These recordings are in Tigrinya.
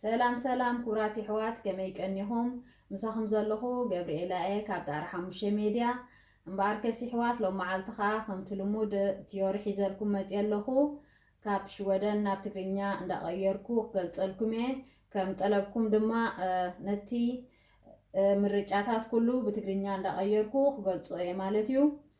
ሰላም ሰላም ክብራት የሕዋት ከመይ ቀኒኹም ምሳኹም ዘለኹ ገብሪኤላ እየ ካብ ጣራ ሓሙሽተ ሜድያ እምበኣርከስ ይሕዋት ሎም መዓልቲ ከኣ ከምቲ ልሙድ ትዮሪ ሒዘልኩም መጽየ ኣለኹ ካብ ሽወደን ናብ ትግርኛ እንዳቐየርኩ ክገልጸልኩም እየ ከም ጠለብኩም ድማ ነቲ ምርጫታት ኩሉ ብትግርኛ እንዳቐየርኩ ክገልጾ እየ ማለት እዩ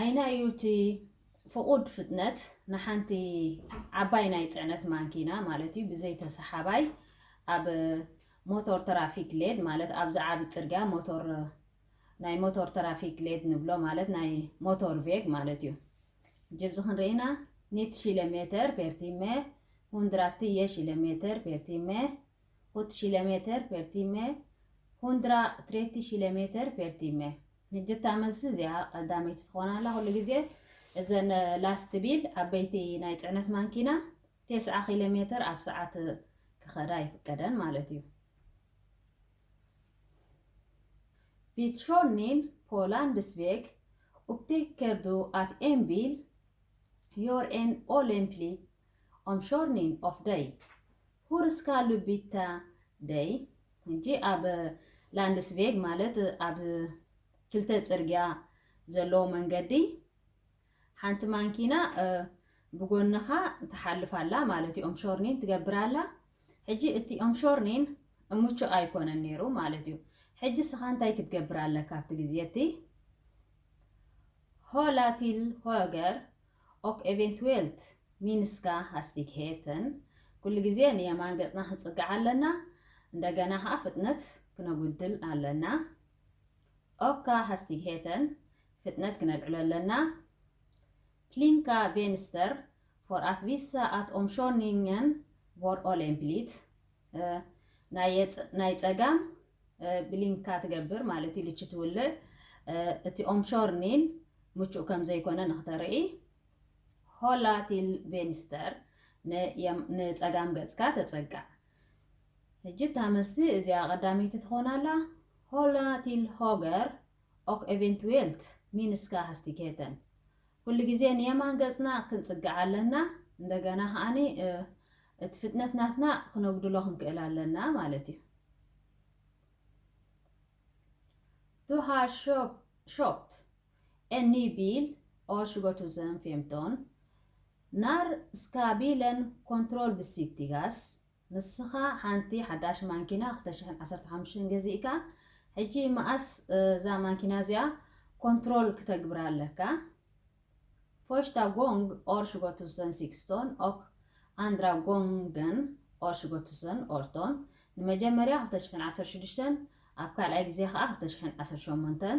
ኣይናይ እዩ እቲ ፍቑድ ፍጥነት ንሓንቲ ዓባይ ናይ ጽዕነት ማንኪና ማለት እዩ ብዘይ ተሰሓባይ ኣብ ሞቶር ተራፊክ ሌድ ማለት ኣብዚ ዓቢ ጽርግያ ሞቶር ናይ ሞቶር ተራፊክ ሌድ ንብሎ ማለት ናይ ሞቶር ቬግ ማለት እዩ ጅብዚ ክንርኢና ኒት ሺለ ሜተር ፔርቲመ ሁንድራትየ ሺለ ሜተር ፔርቲመ ሁት ሺለሜተር ፔር ቲመ ሁንድራ ትሬቲ ሺለሜተር ፔር ቲመ ሕጂ እታ መልሲ እዚኣ ቀዳመይቲ ትኾን ኣላ ኩሉ ግዜ እዘን ላስት ቢል ዓበይቲ ናይ ፅዕነት ማንኪና ቴስዓ ኪሎ ሜተር ኣብ ሰዓት ክኸዳ ይፍቀደን ማለት እዩ ቪትሾኒን ፖላንድስ ቬግ ኡፕቴከርዱ ኣት ኤምቢል ዮር ኤን ኦሌምፕሊ ኦምሾርኒን ኦፍ ደይ ሁርስካ ሉቢታ ደይ ኩንቲ ኣብ ላንድስቬግ ማለት ኣብ ክልተ ጽርግያ ዘለዎ መንገዲ ሓንቲ ማንኪና ብጎንኻ ትሓልፍ ኣላ ማለት ኦምሾርኒን ትገብር ኣላ ሕጂ እቲ ኦምሾርኒን እሙቹእ ኣይኮነን ነይሩ ማለት እዩ ሕጂ ስኻ እንታይ ክትገብር ኣለካ ኣብቲ ግዜ እቲ ሆላቲል ሆገር ኦክ ኤቨንትዌልት ሚንስካ ሃስቲግሄተን ኩሉ ግዜ ንየማን ገጽና ክንጽጋዕ ኣለና እንደገና ከኣ ፍጥነት ክነጉድል ኣለና ኦካ ሃስቲግሄተን ፍጥነት ክነልዕሎ ኣለና ፕሊንካ ቬንስተር ፎር ኣት ቪሳ ኣት ኦምሾኒንገን ቮር ኦሌምፕሊት ናይ ጸጋም ብሊንካ ትገብር ማለት እዩ ልቺ ትውልዕ እቲ ኦምሾርኒን ምቹእ ከም ዘይኮነ ንክተርኢ ሆላ ቲል ቬንስተር ንጸጋም ገጽካ ተጸጋዕ። ሕጂ እታ መልሲ እዚኣ ቀዳመይቲ ትኾን ኣላ፣ ሆላ ቲል ሆገር ኦክ ኤቬንትዌልት ሚንስካ ሃስቲኬተን። ኩሉ ግዜ ንየማን ገጽና ክንጽግዕ ኣለና፣ እንደገና ከኣ እቲ ፍጥነት ናትና ክነጉድሎ ክንክእል ኣለና ማለት እዩ። ዱ ሃር ሾፕት En ny bil år 2015 När ska bilen kontrollbesiktigas? ንስኻ ሓንቲ ሓዳሽ ማንኪና ክልተ ሽሕን ዓሰርተ ሓሙሽተን ገዚእካ ሕጂ መኣስ እዛ ማንኪና እዚኣ ኮንትሮል ክተግብራ ኣለካ? Första gång år 2016 och andra gången år 2018 ንመጀመርያ ክልተ ሽሕን ዓሰርተ ሽዱሽተን ኣብ ካልኣይ ግዜ ከኣ ክልተ ሽሕን ዓሰርተ ሸሞንተን።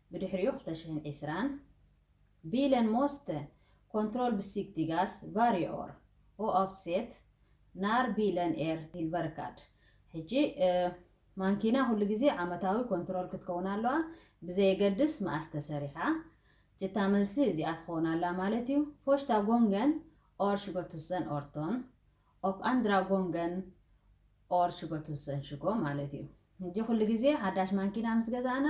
ብድሕሪኡ ክልተ ሽሕን ዕስራን ቢለን ሞስተ ኮንትሮል ብሲክቲጋስ ቫርየ ኦር ኦኣፍሴት ናር ቢለን ኤር ቲልቨርካድ ሕጂ ማንኪና ኩሉ ግዜ ዓመታዊ ኮንትሮል ክትከውን ኣለዋ ብዘየገድስ መኣስ ተሰሪሓ ጅታ መልሲ እዚኣ ትኸውን ኣላ ማለት እዩ ፎሽታ ጎንገን ኦር ሽጎቱሰን ኦርቶን ኦፍ ኣንድራ ጎንገን ኦር ሽጎቱሰን ሽጎ ማለት እዩ ሕጂ ኩሉ ግዜ ሓዳሽ ማንኪና ምስ ገዛእና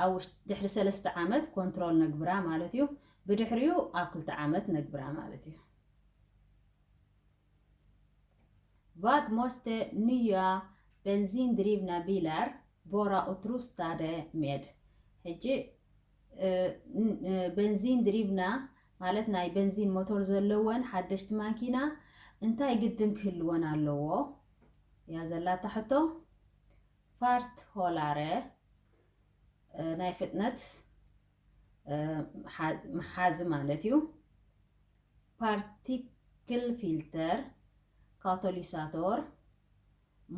ኣብ ውሽ ድሕሪ ሰለስተ ዓመት ኮንትሮል ነግብራ ማለት እዩ ብድሕሪኡ ኣብ ክልተ ዓመት ነግብራ ማለት እዩ። Vad måste nya bensindrivna bilar vara utrustade med? ሕጂ በንዚን ድሪብና ማለት ናይ በንዚን ሞቶር ዘለወን ሓደሽቲ ማኪና እንታይ ግድን ክህልወን ኣለዎ እያ ዘላታ ሕቶ ፋርት ሆላረ ናይ ፍጥነት መሓዚ ማለት እዩ ፓርቲክል ፊልተር ካቶሊሳቶር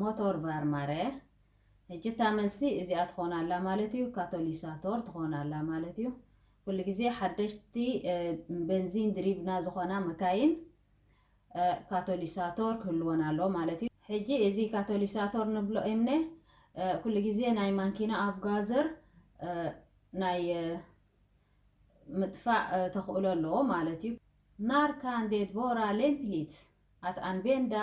ሞቶር ቫርማረ ሕጂ እታ መልሲ እዚኣ ትኾን ኣላ ማለት እዩ ካቶሊሳቶር ትኾን ኣላ ማለት እዩ ኩሉ ግዜ ሓደሽቲ ቤንዚን ድሪብና ዝኾና መካይን ካቶሊሳቶር ክህልወን ኣለዎ ማለት እዩ። ሕጂ እዚ ካቶሊሳቶር ንብሎ እምነ ኩሉ ግዜ ናይ ማንኪና ኣቭጋዘር ናይ ምጥፋእ ተኽእሎ ኣለዎ ማለት እዩ። ናር ካን ዴት ቮራ ሌምፕሊት ኣት ኣንቬንዳ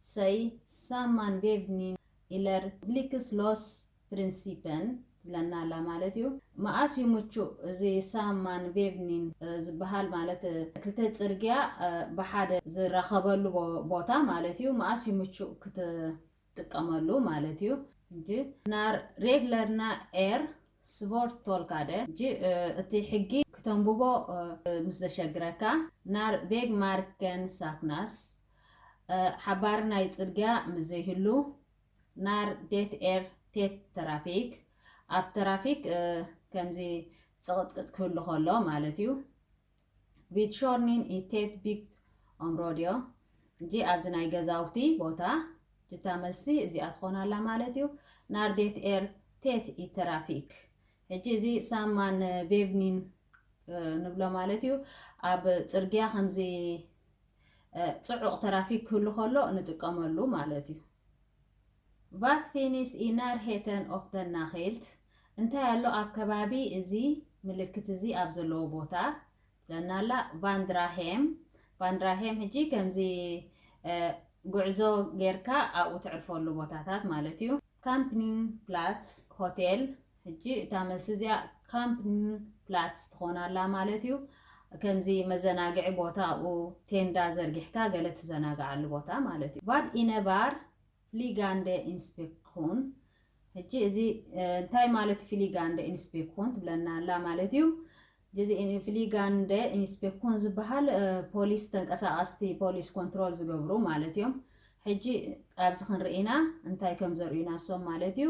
ሰይ ሳማን ቬቭኒን ኢለር ብሊክስ ሎስ ፕሪንሲፐን ትብለና ኣላ ማለት እዩ። መኣስ እዩ ምቹእ እዚ ሳም ማን ቬቭኒን ዝበሃል ማለት ክልተ ጽርግያ ብሓደ ዝራኸበሉ ቦታ ማለት እዩ መኣስ እዩ ምቹእ ክትጥቀመሉ ማለት እዩ። ጅ ናር ሬግለርና ኤር ስቮርት ቶልካደ ጅ እቲ ሕጊ ክተንብቦ ምስ ዘሸግረካ ናር ቬግ ማርከን ሳክናስ ሓባሪ ናይ ጽርግያ ምስ ዘይህሉ ናር ዴት ኤር ቴት ተራፊክ፣ ኣብ ተራፊክ ከምዚ ጽቕጥቅጥ ክህሉ ከሎ ማለት እዩ። ቪት ሾርኒን ኢ ቴት ቢግት ኦምሮድዮ፣ እጂ ኣብዚ ናይ ገዛውቲ ቦታ ጅታ መልሲ እዚኣ ትኾን ኣላ ማለት እዩ። ናር ዴት ኤር ቴት ኢ ተራፊክ፣ ሕጂ እዚ ሳማን ቬቭኒን ንብሎ ማለት እዩ። ኣብ ጽርግያ ከምዚ ጽዑቕ ተራፊክ ክህሉ ከሎ ንጥቀመሉ ማለት እዩ። ቫት ፊኒስ ኢ ናርሄተን ኦፍ ደን ናኼልት፣ እንታይ ኣሎ ኣብ ከባቢ እዚ ምልክት እዚ ኣብ ዘለዎ ቦታ፣ ትብለና ኣላ። ቫንድራሄም፣ ቫንድራሄም ሕጂ ከምዚ ጉዕዞ ጌርካ ኣብኡ ተዕርፈሉ ቦታታት ማለት እዩ። ካምፕኒንግ ፕላትስ ሆቴል፣ ሕጂ እታ መልሲ እዚኣ ካምፕንፕላትስ ትኾን ኣላ ማለት እዩ። ከምዚ መዘናግዒ ቦታ ኣብኡ ቴንዳ ዘርጊሕካ ገለ ትዘናግዓሉ ቦታ ማለት እዩ። ቫድ ኢነባር ፍሊጋንደ ኢንስፔክኹን ሕጂ እዚ እንታይ ማለት እዩ ፍሊጋንደ ኢንስፔክኹን ትብለና ኣላ ማለት እዩ። እዚ ፍሊጋንደ ኢንስፔክኹን ዝበሃል ፖሊስ ተንቀሳቐስቲ ፖሊስ ኮንትሮል ዝገብሩ ማለት እዮም። ሕጂ ኣብዚ ክንርኢና እንታይ ከም ዘርእዩና እሶም ማለት እዩ።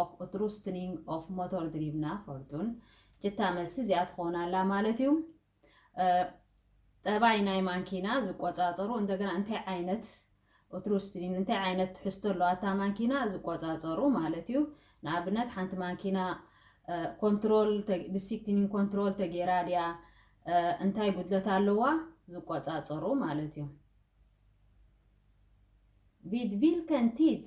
ኦክ ኡትሩስትኒንግ ኦፍ ሞቶርድሪቭና ፎርዱን ጅታ መልሲ እዚኣ ትኾን ኣላ ማለት እዩ። ጠባይ ናይ ማንኪና ዝቆፃፀሩ እንደገና እንታይ ዓይነት ኡትሩስትኒን እንታይ ዓይነት ትሕዝቶ ኣለዋታ ማንኪና ዝቆፃፀሩ ማለት እዩ። ንኣብነት ሓንቲ ማንኪና ኮንትሮል ብሲክቲኒን ኮንትሮል ተጌራ ድያ እንታይ ጉድለት ኣለዋ ዝቆፃፀሩ ማለት እዩ ቪድ ቪልከን ቲት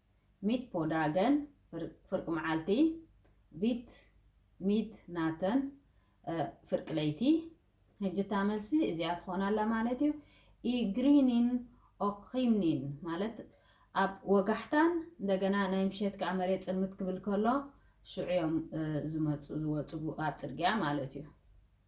ሚት ፖ ዳገን ፍርቂ መዓልቲ፣ ቪት ሚት ናተን ፍርቂ ለይቲ። ሕጂ እታ መልሲ እዚኣ ትኾን ኣላ ማለት እዩ። ኢ ግሪኒን ኦክ ኺምኒን ማለት ኣብ ወጋሕታን እንደገና ናይ ምሸት ከኣ መሬት ጽልምት ክብል ከሎ ሽዑ እዮም ዝመጹ ዝወጹ ኣብ ጽርግያ ማለት እዩ።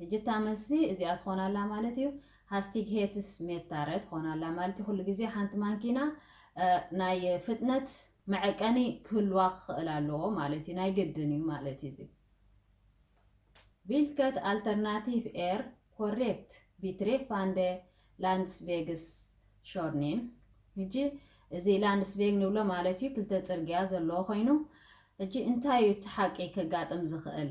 ሕጂ እታ መልሲ እዚኣ ትኾን ኣላ ማለት እዩ፣ ሃስቲግሄትስሜታረ ትኾን ኣላ ማለት እዩ፣ ኩሉ ግዜ ሓንቲ ማንኪና ናይ ፍጥነት መዐቀኒ ክህልዋ ክኽእል ኣለዎ ማለት እዩ፣ ናይ ግድን እዩ ማለት እዩ እዚ። ቪልከት ኣልተርናቲቭ ኤር ኮሬክት ቢትሬፋንደ ላንድስቬግስ ሾርኒን ሕጂ እዚ ላንድስቬግ ንብሎ ማለት እዩ ክልተ ጽርግያ ዘለዎ ኮይኑ ሕጂ እንታይ እዩ እቲ ሓቂ ከጋጥም ዝኽእል?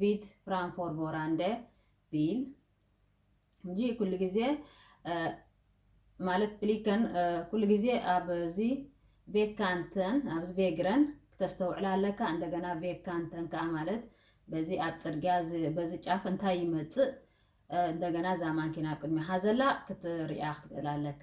ቪት ፍራንፎር ቮራንደ ቢል እንጂ ኩሉ ግዜ ማለት ብሊከን ኩሉ ግዜ ኣብዚ ቬካንተን ኣብዚ ቬግረን ክተስተውዕላ ኣለካ እንደገና ቬካንተን ከዓ ማለት በዚ ኣብ ፅርግያ በዚ ጫፍ እንታይ ይመፅእ እንደገና እዛ ማንኪና ኣብ ቅድሚኻ ዘላ ክትሪኣ ክትክእል ኣለካ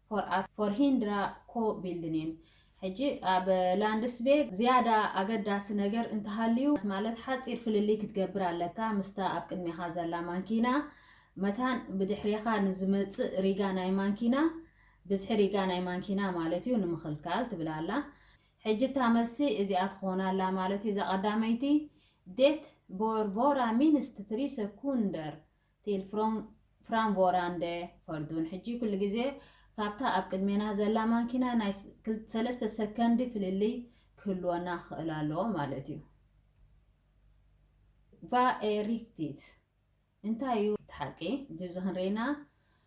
ፎር ኣት ፎርሂንድራ ኮ ቢልድኒን ሕጂ ኣብ ላንድስቤግ ዝያዳ ኣገዳሲ ነገር እንተሃልዩ ማለት ሓጺር ፍልልይ ክትገብር ኣለካ ምስታ ኣብ ቅድሜኻ ዘላ ማንኪና መታን ብድሕሬኻ ንዝመጽእ ሪጋ ናይ ማንኪና ብዝሒ ሪጋ ናይ ማንኪና ማለት እዩ ንምኽልካል ትብል ኣላ ሕጂ እታ መልሲ እዚኣ ትኾን ኣላ ማለት እዩ እዛ ቀዳመይቲ ዴት ቦር ቮራ ሚንስት ትሪ ሰኩንደር ቲል ፍራም ቮራንደ ፈርዱን ሕጂ ኩሉ ግዜ ካብታ ኣብ ቅድሜና ዘላ ማኪና ናይ ሰለስተ ሰከንዲ ፍልልይ ክህልወና ክኽእል ኣለዎ ማለት እዩ። ቫ ኤ ሪክቲት እንታይ እዩ እቲ ሓቂ? ጅብዚ ክንርኢና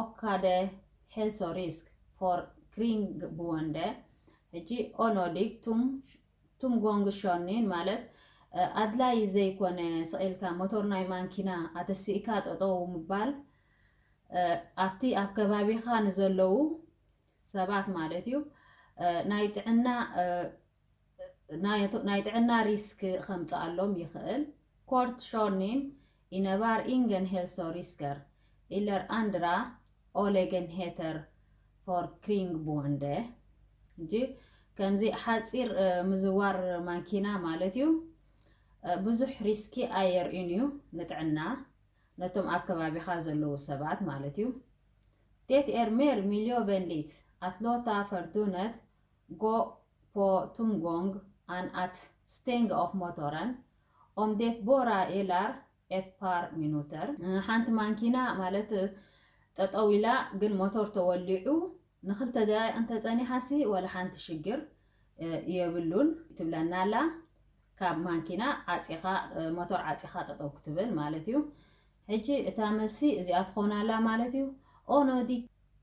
ኦካደ ሄልሶ ሪስክ ፎር ክሪንግቦንደ ሕጂ ኦኖዲግ ቱምጎንግሾኒን ማለት ኣድላይ ዘይኮነ ስቒልካ ሞቶር ናይ ማንኪና ኣተሲእካ ጠጠዉ ምባል ኣብቲ ኣብ ከባቢኻ ንዘለዉ ሰባት ማለት እዩ ናይ ጥዕና ናይ ጥዕና ሪስክ ከምጽኣሎም ይኽእል። ኮርት ሾርኒን ኢነባር ኢንገን ሄልሶሪስከር ኢለር ኣንድራ ኦሌገንሄተር ፎርክሪንግቡንደ እጂ ከምዚ ሓጺር ምዝዋር ማኪና ማለት እዩ ብዙሕ ሪስኪ ኣየርእዩን እዩ ንጥዕና ነቶም ኣብ ከባቢኻ ዘለዉ ሰባት ማለት እዩ ዴት ኤር ሜር ሚልዮቨንሊት ኣት ሎታ ፈርዱነት Gå på tomgång än att stänga av motorn, om det bara gäller ett par minuter. ሓንቲ ማንኪና ማለት ጠጠው ኢላ ግን ሞቶር ተወሊዑ ንክልተ ደቂቅ እንተጸኒሓሲ ዋላ ሓንቲ ሽግር የብሉን ትብለና ኣላ ካብ ማንኪና ዓጺኻ ሞቶር ዓጺኻ ጠጠው ክትብል ማለት እዩ ሕጂ እታ መልሲ እዚኣ ትኾን ኣላ ማለት እዩ ኦኖዲ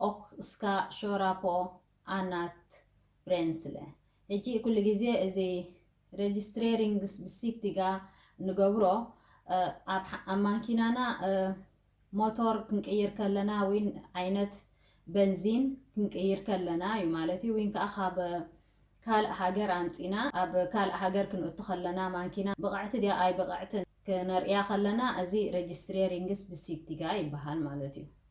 ኦክ እስካ ሾራ ፖ ኣናት ብሬንስለ ህጂ ኩሉ ግዜ እዚ ረጅስትሬሪንግስ ብሲቲጋ ንገብሮ ኣብ ማኪናና ሞቶር ክንቅይር ከለና ዊን ዓይነት በንዚን ክንቅይር ከለና ዩ ማለት ዩ ዊን ከኣ ካብ ካልእ ሃገር ኣምጺና ኣብ ካልእ ሃገር ክንእቱ ከለና ማኪና ብቅዕቲ ድያ ኣይብቅዕትን ክነርእያ ከለና እዚ ረጅስትሬሪንግስ ብሲቲጋ ይበሃል ማለት ዩ።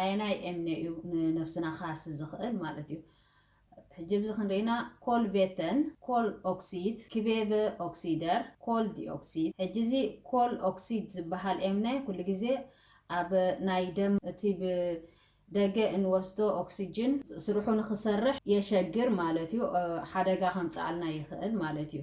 ኣየናይ ኤምኔ እዩ ንነብስና ክሃሲ ዝኽእል ማለት እዩ። ሕጂ ኣብዚ ክንርኢና ኮልቬተን፣ ኮል ኦክሲድ፣ ክቬቨ ኦክሲደር፣ ኮል ዲኦክሲድ። ሕጂ እዚ ኮል ኦክሲድ ዝበሃል ኤምነ ኩሉ ግዜ ኣብ ናይ ደም እቲ ብ ደገ እንወስዶ ኦክስጅን ስርሑ ንክሰርሕ የሸግር ማለት እዩ። ሓደጋ ከምጽኣልና ይኽእል ማለት እዩ።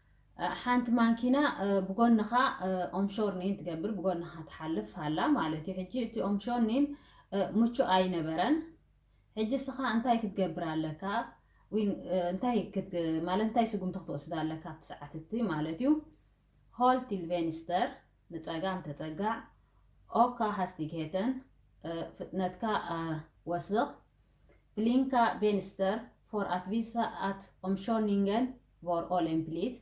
ሓንቲ ማንኪና ብጎንኻ ኦምሾርኒን ትገብር ብጎንኻ ትሓልፍ ሃላ ማለት እዩ ሕጂ እቲ ኦምሾርኒን ምቹእ ኣይነበረን ሕጂ ስኻ እንታይ ክትገብር ኣለካ እንታይ ማለት እንታይ ስጉምቲ ክትወስድ ኣለካ ኣብቲ ሰዓት እቲ ማለት እዩ ሆል ቲል ቬንስተር ንፀጋም ተፀጋዕ ኦካ ሃስቲግሄተን ፍጥነትካ ወስኽ ብሊንካ ቬንስተር ፎር ኣትቪሳ ኣት ኦምሾርኒንገን ፎር ኦል ኤን ፕሊት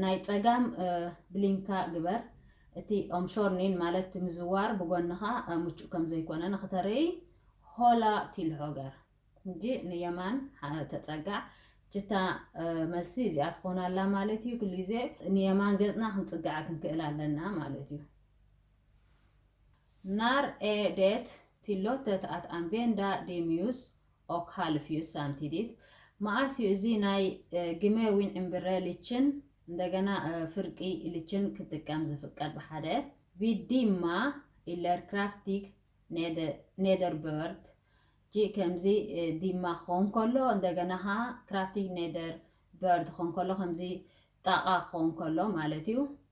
ናይ ጸጋም ብሊንካ ግበር እቲ ኦምሾርኒን ማለት ምዝዋር ብጎንኻ ምቹእ ከም ዘይኮነ ንክተርእይ ሆላ ቲል ሆገር እንጂ ንየማን ተጸጋዕ ችታ መልሲ እዚኣ ትኾን ኣላ ማለት እዩ ኩሉ ግዜ ንየማን ገጽና ክንጽጋዕ ክንክእል ኣለና ማለት እዩ ናር ኤ ዴት ቲሎተት ኣት ኣንቬንዳ ዴሚዩስ ኦክ ሃልፍ እዩ እሳ እንቲዲት መኣስ እዩ እዚ ናይ ግመ ዊን ዕምብረ ልችን እንደገና ፍርቂ ልችን ክጥቀም ዝፍቀድ ብሓደ ቪድ ዲማ ኢለር ክራፍቲግ ኔደርበርድ ጂ ከምዚ ዲማ ክኸውን ከሎ እንደገና ኸዓ ክራፍቲግ ኔደር በርድ ክኸውን ከሎ ከምዚ ጣቓ ክኸውን ከሎ ማለት እዩ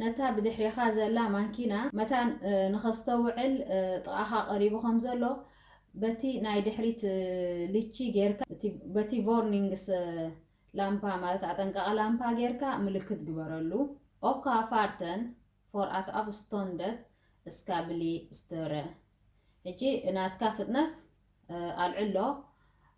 ነታ ብድሕሬኻ ዘላ ማንኪና መታን ንኸስተውዕል ጥቓኻ ቀሪቡ ከም ዘሎ በቲ ናይ ድሕሪት ሊቺ ጌርካ እቲ በቲ ቮርኒንግስ ላምፓ ማለት ኣጠንቃቒ ላምፓ ጌርካ ምልክት ግበረሉ ኦካ ፋርተን ፎር ኣት ኣቭስቶንደት እስካ ብሊ ስተረ ሕጂ ናትካ ፍጥነት ኣልዕሎ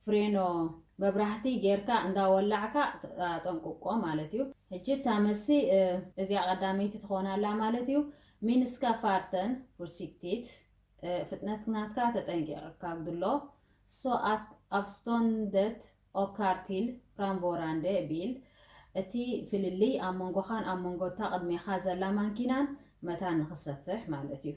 ፍሬኖ መብራህቲ ጌርካ እንዳ ወላዕካ ኣጠንቁቆ ማለት እዩ። ሕጂ እታ መልሲ እዚኣ ቀዳመይቲ ትኾን ኣላ ማለት እዩ። ሚንስካ ፋርተን ፍርሲክቲት፣ ፍጥነት ናትካ ተጠንቂቅካ ግድሎ፣ ሶ ኣት ኣፍስቶንደት ኦካር ቲል ፍራምቮራንደ ቢል፣ እቲ ፍልልይ ኣብ መንጎኻን ኣብ መንጎ እታ ቅድሜኻ ዘላ ማንኪናን መታን ንክሰፍሕ ማለት እዩ።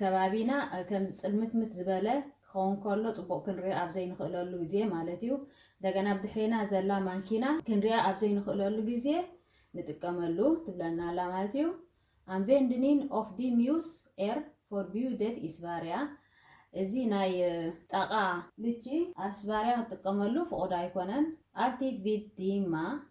ከባቢና ከምዚ ጽልምትምት ዝበለ ክኸውን ከሎ ጽቡቕ ክንሪኦ ኣብ ዘይንኽእለሉ ግዜ ማለት እዩ። እንደገና ብ ድሕሬና ዘላ ማንኪና ክንሪኣ ኣብ ዘይንኽእለሉ ግዜ ንጥቀመሉ ትብለና ኣላ ማለት እዩ። ኣንቬንድኒን ኦፍ ዲ ሚውስ ኤር ፎርቢዩደት ኢ ስቫርያ እዚ ናይ ጣቓ ልቺ ኣብ ስቫርያ ክትጥቀመሉ ፍቑድ ኣይኮነን። ኣልቲድ ቪድ ዲማ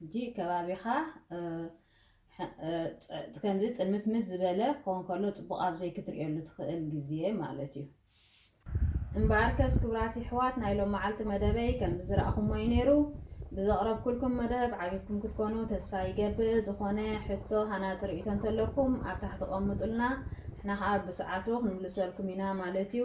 ሕጂ ከባቢኻ ከምዚ ጽልምትምት ዝበለ ክኸውን ከሎ ጽቡቕ ኣብ ዘይክትርእየሉ ትኽእል ግዜ ማለት እዩ። እምበኣርከስ ክብራት የሕዋት ናይ ሎምዓልቲ መደበይ ከምዚ ዝራእኹሞ እዩ ነይሩ። ብዘቕረብኩልኩም መደብ ዓጊብኩም ክትኮኑ ተስፋ ይገብር። ዝኾነ ሕቶ ሃናጺ ርእይቶ እንተለኩም ኣብ ታሕቲ ቀምጡልና ንሕና ከኣ ብሰዓቱ ክንምልሰልኩም ኢና ማለት እዩ።